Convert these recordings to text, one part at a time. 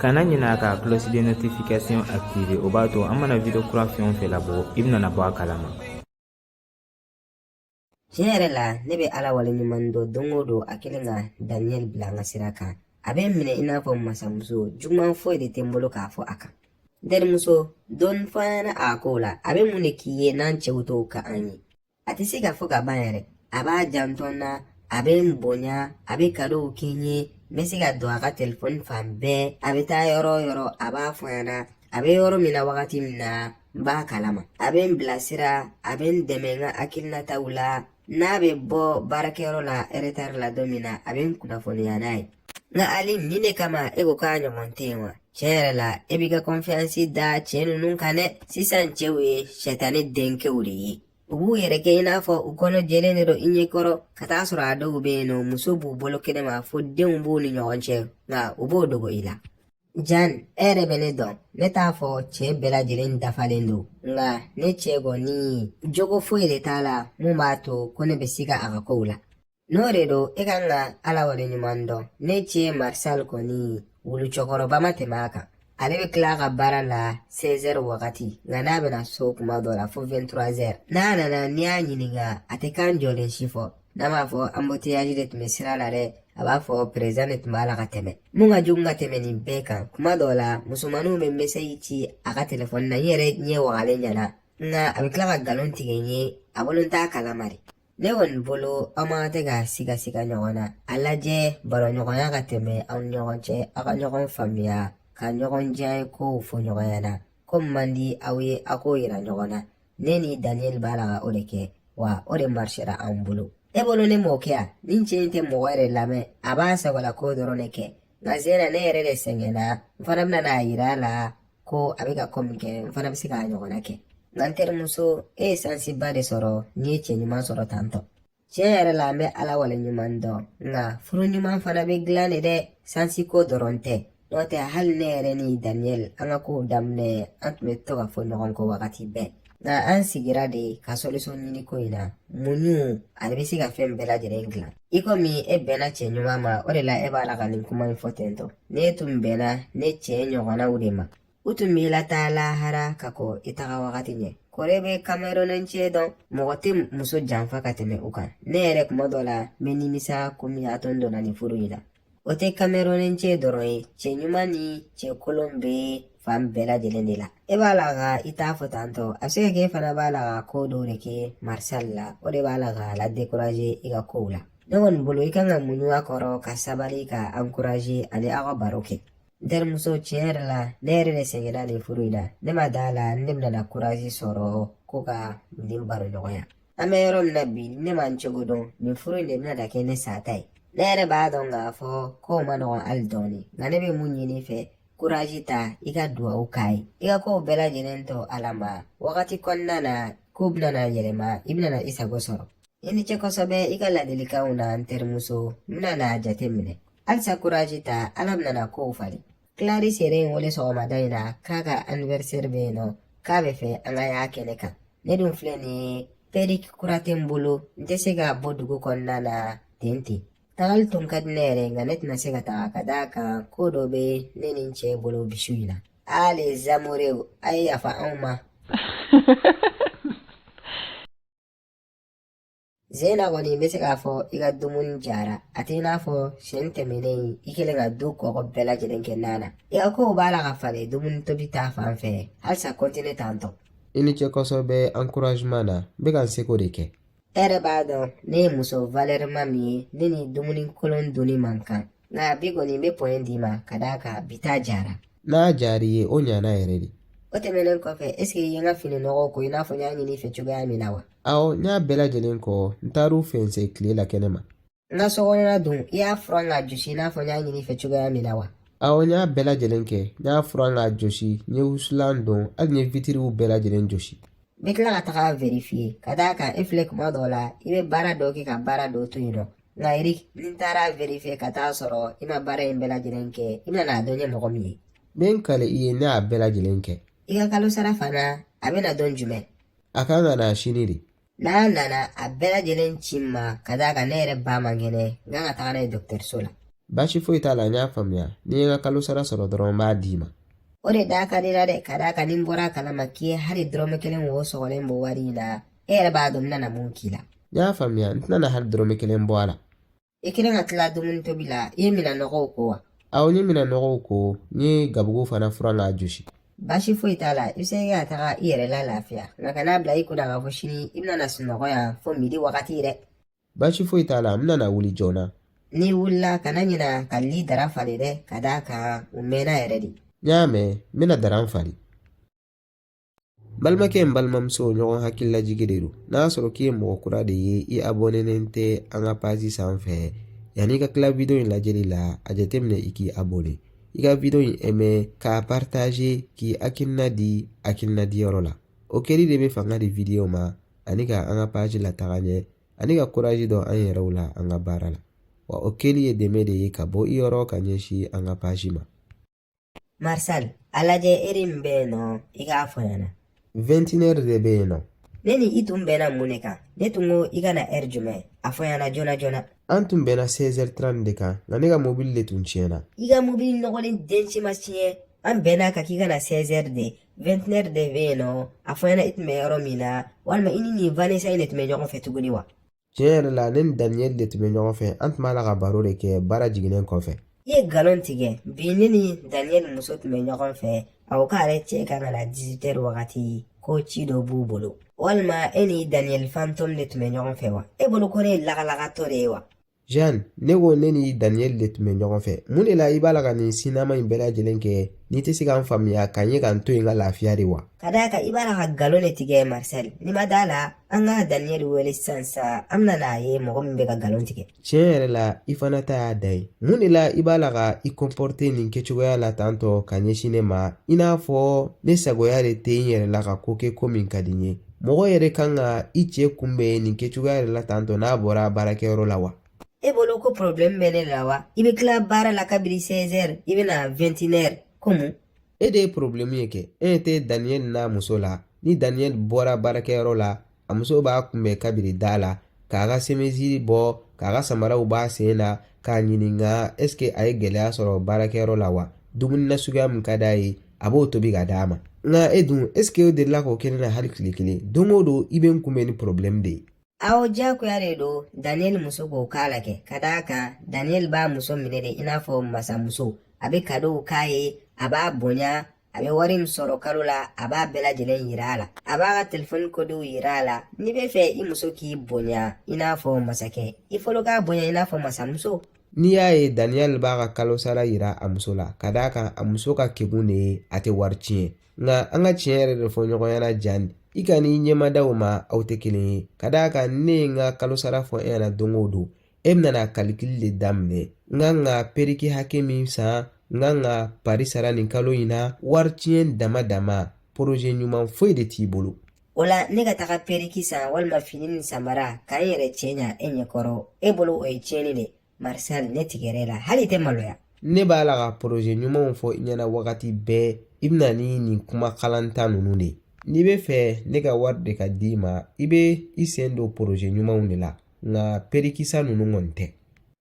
kana ɲinɛ a ka cloche de notification activer o b'a to an mana video kura fɛn o fɛn labɔ i bɛna bɔ a kalama tiɲɛ yɛrɛ la ne bɛ ala wale ɲuman dɔn don o don a kelen ka daniyɛli bila n ka sira kan a bɛ n minɛ i n'a fɔ masamuso juguman foyi de tɛ n bolo k'a fɔ a kan terimuso dɔɔnin fɔ an ɲɛna a kow la a bɛ mun de k'i ye n'an cɛw t'o k'an ye a tɛ se ka fɔ ka ban yɛrɛ a b'a janto n na a bɛ n bonya a bɛ kadow kɛ n ye n bɛ se ka don a ka telefɔni fan bɛɛ a bɛ taa yɔrɔ o yɔrɔ a b'a fɔ n ɲɛna a bɛ yɔrɔ min na wagati min na n b'a kalama a bɛ n bilasira a bɛ n dɛmɛ n ka hakilinataw la n'a bɛ bɔ baarakɛyɔrɔ la eretari la don min na a bɛ n kunnafoniya n'a ye Nka ali min de kama e ko k'a ɲɔgɔn tɛ yen wa tiɲɛ yɛrɛ la e b'i ka kɔnfiyansi da cɛ ninnu kan dɛ sisan cɛw ye sɛtani denkɛw de ye u b'u yɛrɛ kɛ i n'a fɔ u kɔnɔ jɛlen de don i ɲɛ kɔrɔ ka taa sɔrɔ a dɔw bɛ yen nɔ muso b'u bolo kɛnɛ ma fo denw b'u ni ɲɔgɔn cɛ nka u b'o dogo i la jan e yɛrɛ bɛ ne dɔn ne t'a fɔ cɛ bɛɛ lajɛlen dafalen don nka ne cɛ kɔni jogo foyi de t'a la mun b'a to ko ne bɛ siga a ka kow la N'o de don e ka kan ka ala wale ɲuman dɔn ne cɛ marisal kɔni wulu cɛkɔrɔba ma tɛmɛ a kan ale bɛ tila a ka baara la 16 wagati nka n'a bɛna so kuma dɔ la fo 23 n'a nana n'i y'a ɲininka a tɛ kan jɔlen si fɔ n'a m'a fɔ anbotiyaji de tun bɛ sira la dɛ a b'a fɔ perezan de tun b'a la ka tɛmɛ mun ka jugu ka tɛmɛ nin bɛɛ kan kuma dɔw la musomaninw bɛ mesɛji ci a ka telefɔni na n yɛrɛ ɲɛ wagalen ɲɛna nka a bɛ tila ka nkalon tigɛ n ye a bolo n t'a kalama de ne kɔni bolo aw mako tɛ ka sigasiga ɲɔgɔn na a lajɛ baroɲɔgɔnya ka tɛmɛ aw ni ɲɔgɔn cɛ aw ka ɲɔgɔn faamuya ka ɲɔgɔn diyanye kow fɔ ɲɔgɔn ɲɛna ko min man di aw ye aw k'o yira ɲɔgɔn na ne ni daniel b'a la ka o de kɛ wa o de marisera an bolo e bolo ne m'o kɛ yan nin cɛ in tɛ mɔgɔ yɛrɛ lamɛn a b'a sagola ko dɔrɔn de kɛ nka zera ne yɛrɛ de sɛgɛnna n fana bɛna n'a yira a la ko a bɛ ka ko min kɛ n fana bɛ se k'a ɲɔgɔnna kɛ nka n terimuso e ye sansiba de sɔrɔ n'i ye cɛ ɲuman sɔrɔ tantɔ tiɲɛ yɛrɛ la n bɛ ala wale ɲuman dɔn nka furu ɲuman fana bɛ dilan de dɛ sansi ko dɔrɔn tɛ n'o tɛ hali ne yɛrɛ ni daniyɛli an ka kow daminɛ an tun bɛ to ka fɔ ɲɔgɔn kɔ wagati bɛɛ nka an sigira de ka sɔlisɔn ɲini ko in na muɲuli bɛ se ka fɛn bɛɛ lajɛlen dilan i komi e bɛnna cɛ ɲuman ma o de la e b'a la ka nin kuma in fɔ tentɔ n'e tun bɛnna ne cɛ ɲɔgɔnnaw de ma u tun b'i lataa lahara ka kɔn i taga wagati ɲɛ kori e bɛ kamerɔnin cɛ dɔn mɔgɔ tɛ muso janfa ka tɛmɛ u kan ne yɛrɛ kuma dɔ la n bɛ nimisa ko mun y'a to n donna nin furu in na O tɛ kamerɔnin cɛ dɔrɔn ye cɛ ɲuman ni cɛ kolon bɛ fan bɛɛ lajɛlen de la e b'a la ka i ta fɔ tantɔ a bɛ se ka kɛ e fana b'a la ka ko dɔw de kɛ marisali la o de b'a la k'a ladekuraze i ka kow la ne kɔni bolo i kan ka muɲu a kɔrɔ ka sabali k'a ankuraze ani aw ka baro kɛ n terimuso tiɲɛ yɛrɛ la ne yɛrɛ de sɛgɛnna nin furu in na ne ma da a la ne bɛna na kurazi sɔrɔ ko ka nin baro ɲɔgɔnya an bɛ yɔrɔ min na bi ne ma n cogo dɔn nin furu in de bɛna da kɛ ne sata ye ne yɛrɛ b'a dɔn k'a fɔ kow man nɔgɔn hali dɔɔni nka ne bɛ min ɲini i fɛ kurazi ta i ka duwawu k'a ye i ka kow bɛɛ lajɛlen to ala ma wagati kɔnɔna na kow bɛna na yɛlɛma i bɛna na i sago sɔrɔ i ni ce kosɛbɛ i ka ladilikanw na n terimuso n bɛna n'a jateminɛ halisa kurazi ta ala bɛna na kow falen clarice yɛrɛ ye n wele sɔgɔmada in na k'a ka anniversaire bɛ yen nɔ k'a b'a fɛ an ka y'a kɛnɛ kan ne dun filɛ nin ye pɛrik kura tɛ n bolo n tɛ se ka bɔ dugu kɔnɔna na ten ten tagali tun ka di ne yɛrɛ nka ne tɛna se ka taga ka d'a kan ko dɔ bɛ ne ni n cɛ bolo bi su in na ah les amoureux a ye yafa anw ma Zena n kɔni bɛ se k'a fɔ i ka dumuni jara a t'i n'a fɔ siɲɛ tɛmɛnen i kɛlen ka dugu kɔgɔ bɛɛ lajɛlen kɛ nan na i ka kow b'a la ka falen dumuni tobi ta fan fɛ halisa kɔntine tan tɔ i ni ce kosɛbɛ ankurazeman na n bɛ ka n seko de kɛ e yɛrɛ b'a dɔn ne ye muso valɛrima min ye ne ni dumuni kolon dunni man kan nka bi kɔni n bɛ point d'i ma ka d'a kan bi ta jara n'a jar'i ye o ɲana yɛrɛ de o tɛmɛnen kɔfɛ esike i ye n ka fini nɔgɔw ko i n'a fɔ n y'a ɲini i fɛ cogoya min na wa awɔ n y'a bɛɛ lajɛlen ko n taar'u fɛnsɛ tile la kɛnɛ ma n ka sokɔnɔna dun i y'a furan k'a josi i n'a fɔ n y'a ɲini i fɛ cogoya min na wa awɔ n y'a bɛɛ lajɛlen kɛ n y'a furan k'a josi n ye wusulan don hali n ye witiriw bɛɛ lajɛlen josi n bɛ tila ka taga verifiye ka d'a kan e filɛ tuma dɔw la i bɛ baara dɔw kɛ ka baara dɔw to yen nɔ Layiri ni n taara verifiye ka taa sɔrɔ i ma baara in bɛɛ lajɛlen kɛ i bɛna n'a dɔn n ye mɔgɔ min ye n bɛ n kali i ye ne y'a bɛɛ lajɛlen kɛ i ka kalo sara fana a bɛ na don jumɛn a kan ka na sini de n'a nana a bɛɛ lajɛlen ci n ma ka d'a kan ne yɛrɛ ba man kɛnɛ n kan ka taga n'a ye dɔgɔtɔrɔso la baasi foyi t'a la n y'a faamuya n'i ye n ka kalo sara sɔrɔ dɔrɔn n b'a d'i ma o de da ka di i la dɛ ka d'a kan ni n bɔra a kalama k'i ye hali dɔrɔmɛ kelen wo sɔgɔlen bɔ wari in na e yɛrɛ b'a dɔn n nana mun k'i la n y'a faamuya n tɛna na hali dɔrɔmɛ kelen bɔ a la i kɛlen ka tila dumuni tobi la i ye minan nɔgɔw ko wa awɔ n ye minan nɔgɔw ko n ye gabugu fana furan k'a josi baasi foyi t'a la i bɛ se ka taga i yɛrɛ lalafiya nka kan'a bila i kun na k'a fɔ sini i bɛna na sunɔgɔ yan fo midi wagati dɛ baasi foyi t'a la n bɛna na wuli joona n'i wulila kana ɲina ka li dara falen dɛ ka d'a kan u mɛnna yɛrɛ de n y'a mɛn n bɛna dara in falen balimakɛ n balimamuso ɲɔgɔn hakililajigin de don n'a sɔrɔ k'i ye mɔgɔ kura de ye i abɔnenen tɛ an ka pazi sanfɛ yanni i ka tila wideyo in lajɛli la a jateminɛ i k'i abɔne i ka wideyo in ɛme k'a paritaze k'i hakilina di hakilina di yɔrɔ la o kɛli de bɛ fanga di wideyo ma ani ka an ka pazi lataga ɲɛ ani ka kurazi don an yɛrɛw la an ka baara la wa o kɛli ye dɛmɛ de ye ka bɔ i yɔrɔ ka ɲɛsin an ka pazi ma Marcel, a lajɛ ɛri min bɛ yen nɔ i k'a fɔ n ɲɛna. Vɛntinɛri de bɛ yen nɔ. Ne ni i tun bɛnna mun de kan? Ne tun ko i ka na ɛri jumɛn? A fɔ n ɲɛna joona joona. An tun bɛnna 16h30 de kan, nka ne ka mobili de tun tiɲɛna. I ka mobili nɔgɔlen den si ma tiɲɛ. An bɛnna a kan k'i ka na 16h de. Vɛntinɛri de bɛ yen nɔ. A fɔ n ɲɛna i tun bɛ yɔrɔ min na, walima i ni nin Vanessa in de tun bɛ ɲɔgɔn fɛ tuguni wa? tiɲɛ yɛrɛ la ne ni daniyɛli de tun bɛ ɲɔgɔn fɛ an tun b'a la ka baro de kɛ baara jiginnen kɔfɛ i ye nkalon tigɛ bi ne ni daniyɛli muso tun bɛ ɲɔgɔn fɛ a ko k'ale cɛ ka na na dizitɛri wagati ko ci dɔ b'u bolo walima e ni daniyɛli fantɔm de tun bɛ ɲɔgɔn fɛ wa e bolo ko ne ye lagalagatɔ de ye wa jeanne ne ko ne ni daniyɛli de tun bɛ ɲɔgɔn fɛ mun de la i b'a la ka nin sinima in bɛɛ lajɛlen kɛ n'i tɛ se ka n faamuya ka n ye ka n to yen ka lafiya de wa ka d'a kan i b'a la ka nkalon de tigɛ marisɛli n'i ma d'a la an ka daniyɛli wele sisan sa an bɛna n'a ye mɔgɔ min bɛ ka nkalon tigɛ tiɲɛ yɛrɛ la i fana ta y'a dan ye mun de la i b'a la ka i kɔnpɔrite nin kɛcogoya la tantɔ ka ɲɛsin ne ma i n'a fɔ ne sagoya de tɛ n yɛrɛ la ka ko kɛ ko min ka di n ye mɔgɔ yɛrɛ kan ka i cɛ kunbɛn nin kɛcogoya yɛrɛ la tantɔ n'a bɔra baarakɛyɔrɔ la wa e bolo ko problème bɛ ne la wa i bɛ tila baara la kabiri 16 heures i bɛ na 21 heures ko mun e de ye porobilɛmu ye kɛ e ɲɛ tɛ daniyɛli n'a muso la ni daniyɛli bɔra baarakɛyɔrɔ la a muso b'a kunbɛn kabiri da la k'a ka semisi bɔ k'a ka samaraw b'a sen na k'a ɲininka ɛsike a ye gɛlɛya sɔrɔ baarakɛyɔrɔ la wa dumuni na suguya min ka d'a ye a b'o tobi ka d'a ma nka e dun ɛsike o delila ka kɛ ne na hali tile kelen don o don i bɛ n kunbɛn ni porobilɛmu de ye Aw jagoya de don Daniel muso k'o k'a la kɛ ka d'a kan Daniel b'a muso minɛ de i n'a fɔ masamuso a bɛ kadow k'a ye a b'a bonya a bɛ wari min sɔrɔ kalo la a b'a bɛɛ lajɛlen yira a la a b'a ka telefɔni kodew yira a la n'i bɛ fɛ i muso k'i bonya i n'a fɔ masakɛ i fɔlɔ k'a bonya i n'a fɔ masamuso n'i y'a ye daniyɛli b'a ka kalo sara yira a muso la ka d'a kan a muso ka kegun de ye a tɛ wari tiɲɛ Nka an ka tiɲɛ yɛrɛ de fɔ ɲɔgɔn ɲɛna Jeanne i kan'i ɲɛmada o ma aw tɛ kelen ye ka d'a kan ne ye n ka kalo sara fɔ e ɲɛna don o don e bɛna kalikili de daminɛ n kan ka periki hakɛ min san n kan ka pari sara nin kalo in na wari tiɲɛ dama dama poroze ɲuman foyi de t'i bolo o la ne ka taga periki san walima fini ni samara ka n yɛrɛ cɛɲa e ɲɛkɔrɔ e bolo o ye tiɲɛni de Marcel ne tiɲɛ yɛrɛ la hali tɛ maloya ne b'a la ka poroze ɲumanw fɔ i ɲɛna wagati bɛɛ i bɛ na ni nin kuma kalanta ninnu de ye n'i bɛ fɛ ne ka wari de ka d'i ma i bɛ i sen don poroze ɲumanw de la nka periki san ninnu kɔni tɛ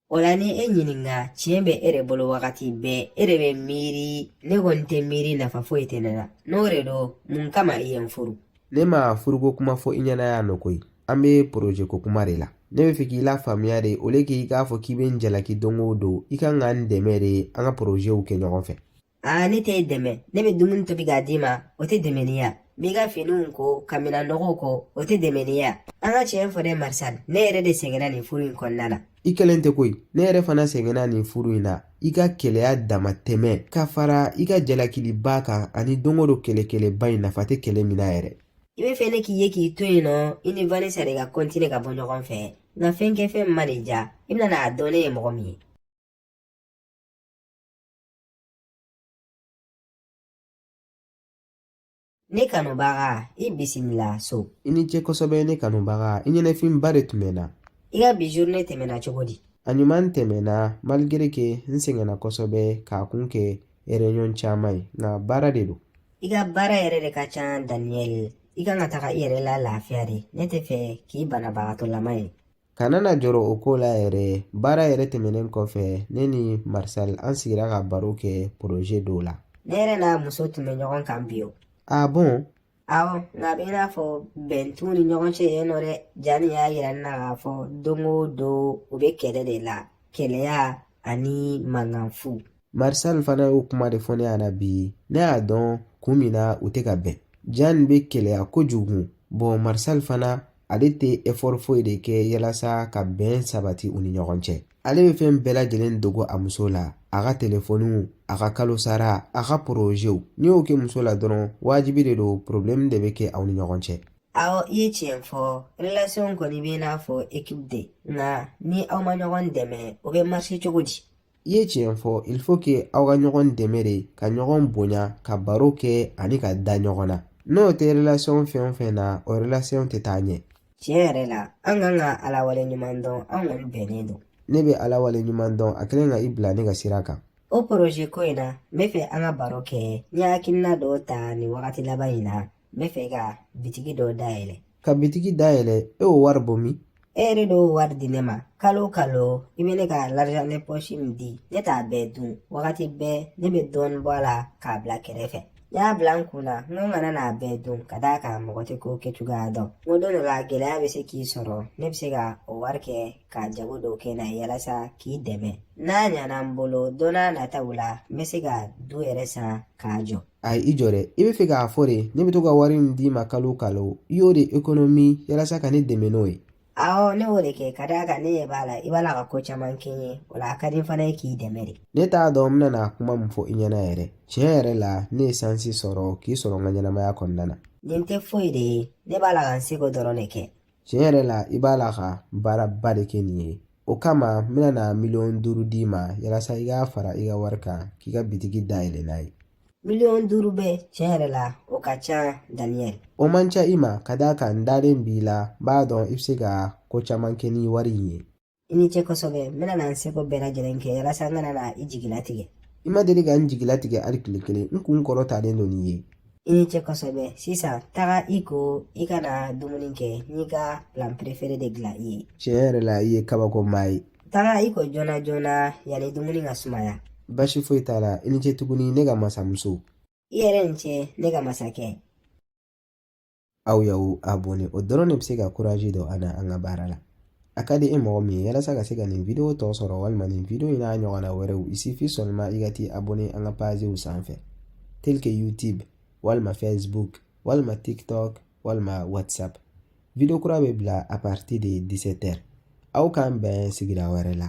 o la ni e ɲininka tiɲɛ bɛ e de bolo wagati bɛɛ e de bɛ miiri ne kɔni tɛ miiri nafa foyi tɛ ne la n'o de don mun kama i ye n furu ne ma furuko kuma fɔ i ɲɛna yan nɔ koyi an bɛ poroze ko kuma de la ne bɛ fɛ k'i lafaamuya de au lieu k'i k'a fɔ k'i bɛ n jalaki don o don i kan ka n dɛmɛ de an ka porozew kɛ ɲɔgɔn fɛ aa ne tɛ e dɛmɛ ne bɛ dumuni tobi k'a d'i ma o tɛ dɛmɛni ye wa n b'i ka finiw ko ka minan nɔgɔw ko o tɛ dɛmɛni ye wa an ka tiɲɛ fɔ dɛ Marcel ne yɛrɛ de sɛgɛnna nin furu in kɔnɔna na i kelen tɛ koyi ne yɛrɛ fana sɛgɛnna nin furu in na i ka keleya damatɛmɛ ka fara i ka jalakiliba kan ani don o don kɛlɛ kɛlɛba in nafa tɛ kɛlɛ min na yɛrɛ i bɛ fɛ ne k'i ye k'i to yen nɔ i ni vanessa de ka kɔntine ka bɔ ɲɔgɔn fɛ nka fɛn kɛ fɛn ma déjà i bɛna n'a dɔn ne ye mɔgɔ min ye Ne kanubaga i bisimila so i ni ce kosɛbɛ ne kanubaga i ɲɛnafinba de tun bɛ n na i ka bi journée tɛmɛna cogo di a ɲuman tɛmɛna malgré que n sɛgɛnna kosɛbɛ k'a kun kɛ réunion caman ye nka baara de don i ka baara yɛrɛ de ka ca Daniel i kan ka taga i yɛrɛ la lafiya de ne tɛ fɛ k'i banabagatɔlama ye Kana jɔrɔ o ko la yɛrɛ baara yɛrɛ tɛmɛnen kɔfɛ ne ni Marcel an sigira ka baro kɛ poroze dɔw la ne yɛrɛ n'a muso tun bɛ ɲɔgɔn kan bi o ah bon awɔ nka a bɛ i n'a fɔ bɛn t'u ni ɲɔgɔn cɛ yen nɔ dɛ jani y'a yira ne na k'a fɔ don o don u bɛ kɛlɛ de la keleya ani mankan fu Marcel fana y'o kuma de fɔ ne ɲɛna bi ne y'a dɔn kun min na u tɛ ka bɛn jani bɛ keleya kojugu bon Marcel fana ale tɛ efɔri foyi de kɛ yalasa ka bɛn sabati u ni ɲɔgɔn cɛ ale bɛ fɛn bɛɛ lajɛlen dogo a muso la a ka telefɔniw a ka kalosara a ka porozew n'i y'o kɛ muso la dɔrɔn wajibi de don porobilɛmu de bɛ kɛ aw ni ɲɔgɔn cɛ aa i ye tiɲɛ fɔ relasiyɔn kɔni bɛ n'a fɔ ekipu de nka ni aw ma ɲɔgɔn dɛmɛ o bɛ marise cogo di i ye tiɲɛ fɔ il faut que aw ka ɲɔgɔn dɛmɛ de ka ɲɔgɔn bonya ka baro kɛ ani ka da ɲɔgɔn na n'o tɛ relation fɛn o fɛn na o relation tɛ taa ɲɛ tiɲɛ yɛrɛ la an kan ka ala wale ɲuman dɔn an kɔni bɛnnen don ne bɛ ala wale ɲuman dɔn a kɛlen ka i bila ne ka sira kan o poroze ko in na n bɛ fɛ an ka baro kɛ n ye hakilina dɔw ta nin wagati laban in na n bɛ fɛ ka bitigi dɔ dayɛlɛ ka bitigi dayɛlɛ e y'o wari bɔ min e yɛrɛ de y'o wari di ne ma kalo o kalo i bɛ ne ka l'argent de poche min di ne t'a bɛɛ dun wagati bɛɛ ne bɛ dɔɔnin bɔ a la k'a bila kɛrɛfɛ n y'a bila n kun na n ko n kana n'a bɛɛ dun ka d'a kan mɔgɔ tɛ ko kɛcogoya dɔn n ko don dɔ la gɛlɛya bɛ se k'i sɔrɔ ne bɛ se ka o wari kɛ ka jago dɔw kɛ n'a ye yalasa k'i dɛmɛ n'a ɲana n bolo don nataw la n bɛ se ka du yɛrɛ san k'a jɔ ayi i jɔ dɛ i bɛ fɛ k'a fɔ de ne bɛ to ka wari min d'i ma kalo kalo i y'o de ekonomi yalasa ka ne dɛmɛ n'o ye awɔ ne y'o de kɛ ka d'a kan ne ɲɛ b'a la i b'a la ka ko caman kɛ n ye o la a ka di n fana ye k'i dɛmɛ de ne t'a dɔn n bɛna na kuma min fɔ i ɲɛna yɛrɛ tiɲɛ yɛrɛ la ne ye sansi sɔrɔ k'i sɔrɔ n ka ɲɛnamaya kɔnɔna na nin tɛ foyi de ye ne b'a la ka n seko dɔrɔn de kɛ tiɲɛ yɛrɛ la i b'a la ka baaraba de kɛ nin ye o kama n bɛna na miliyɔn duuru d'i ma yalasa i k'a fara i ka wari kan k'i ka bitigi dayɛlɛ n'a ye miliyɔn duuru bɛɛ tiɲɛ yɛrɛ la o ka ca daniyɛl o man ca i ma ka d'a kan n dalen b'i la n b'a dɔn i bɛ se ka ko caman kɛ ni wari in ye i ni ce kosɛbɛ n bɛna na n seko bɛɛ lajɛlen kɛ yalasa n kana na i jigilatigɛ i ma deli ka n jigilatigɛ hali tile kelen n kun kɔrɔtalen don n'i ye i ni ce kosɛbɛ sisan taga i ko i ka na dumuni kɛ n y'i ka plat préféré de dilan i ye tiɲɛ yɛrɛ la i ye kabako maa ye taga i ko joona joona yanni dumuni ka sumaya basi foyi t'a la i ni ce tuguni ne ka masamuso i yɛrɛ ni ce ne ka masakɛ aw y'aw abɔne o dɔrɔn de bɛ se ka kuraji don an na an ka baara la a ka di e mɔgɔ min ye yalasa ka se ka nin video tɔ sɔrɔ walima nin video in n'a ɲɔgɔnna wɛrɛw il suffit seulement i ka t'i abɔne an ka pazew sanfɛ tel que youtube walima facebook walima tiktok walima whatsapp video kura bɛ bila a partir de 17 heures aw k'an bɛn sigira wɛrɛ la